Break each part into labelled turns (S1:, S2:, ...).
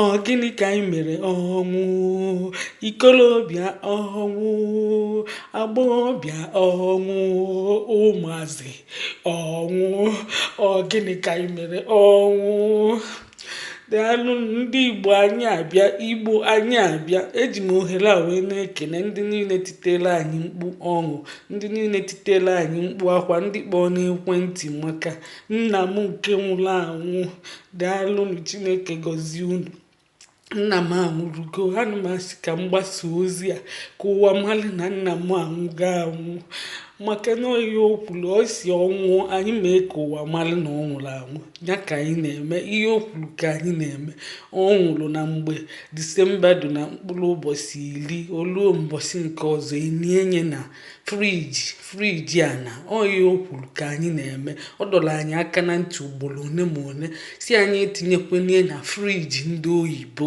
S1: Ọ gịnị ka anyị mere ọnwụ ikolobịa ọnwụ agbọghọbịa ọnwụ ụmụazị ọnwụ ọ gịnị ka anyị mere ọnwụ daalụnụ ndị igbo anyị abịa igbo anyị abịa eji m ohere a wee na-ekene ndị niile titere anyị mkpu ọnwụ ndị niile titere anyị mkpu akwa ndị kpọọ n'ekwentị maka nna m nke nwụrụ anwụ Daalụnụ Chineke gọzie unu. Nna m anwụrụgo ana m asị ka m gbasa ozi a ka ụwa mara na nna m anwụgo anwụ maka na ihe o kwuru ọ sị ọ nwụọ anyị mee ka ụwa mara na ọ nwụrụ anwụ ya ka anyị na-eme ihe o kwuru ka anyị na-eme ọ nwụrụ na mgbe disemba dị na mkpụrụ ụbọchị iri o luo mbọsị nke ọzọ e nie nye na friji friji a na oyi ihe o kwuru ka anyị na-eme ọ dọrọ anyị aka na ntị ugboro one ma one sị anyị etinyekwana ya na friji ndị oyibo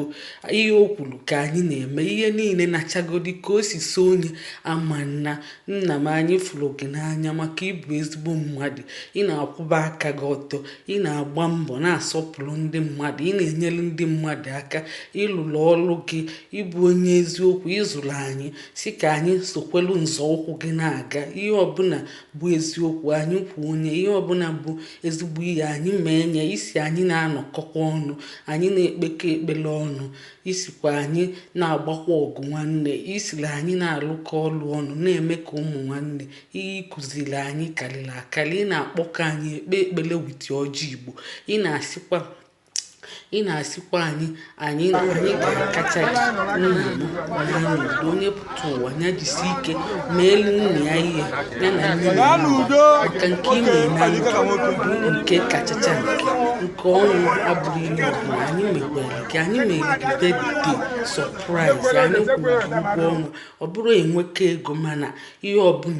S1: ihe o kwuru ka anyị na-eme ihe niile nachagodi ka o si so onye ama nna nna m anyị fụrụ gị n'anya maka ị bụ ezigbo mmadụ ị na-akwụba aka gị ọtọ ị na-agba mbọ na-asọpụrụ ndị mmadụ ị na-enyere ndị mmadụ aka ị lụrụ ọlụ gị ị bụ onye eziokwu ị zụrụ anyị Sị ka anyị sokwelu nzọụkwụ gị na-aga. Ihe ọbụla bụ eziokwu, anyị kwuo nye. Ihe ọbụla bụ ezigbo ihe, anyị mee nye. Ị sị anyị na-anọkọkwa ọnụ, anyị na-ekpekọ ekpere ọnụ. Ị sịkwa anyị na-agbakwa ọgụ nwanne. Ị sịrị anyị na-alụkọ ọlụ ọnụ, na-eme ka ụmụ nwanne. Ihe ị kụziri anyị karịrị akarị. Ị na-akpọkọ anyị ekpe ekpere wit ọjị Igbo. Ị na-asịkwa ị na-asịkwa anyị na anyị ga-akacha gị nna m naa n'udo onye pụta ụwa ya jisi ike meelu nna ya ihe ya na nne ya maka nke i mere na ndụ nke kachacha nke nke ọnwụ abụrọ ihe ọbụla anyị mekwere gị anyị mere gị bedde sọpraịz anyị kwụrụ ụgwọ ọnwa ọ bụrọ inweka ego mana ihe ọbụla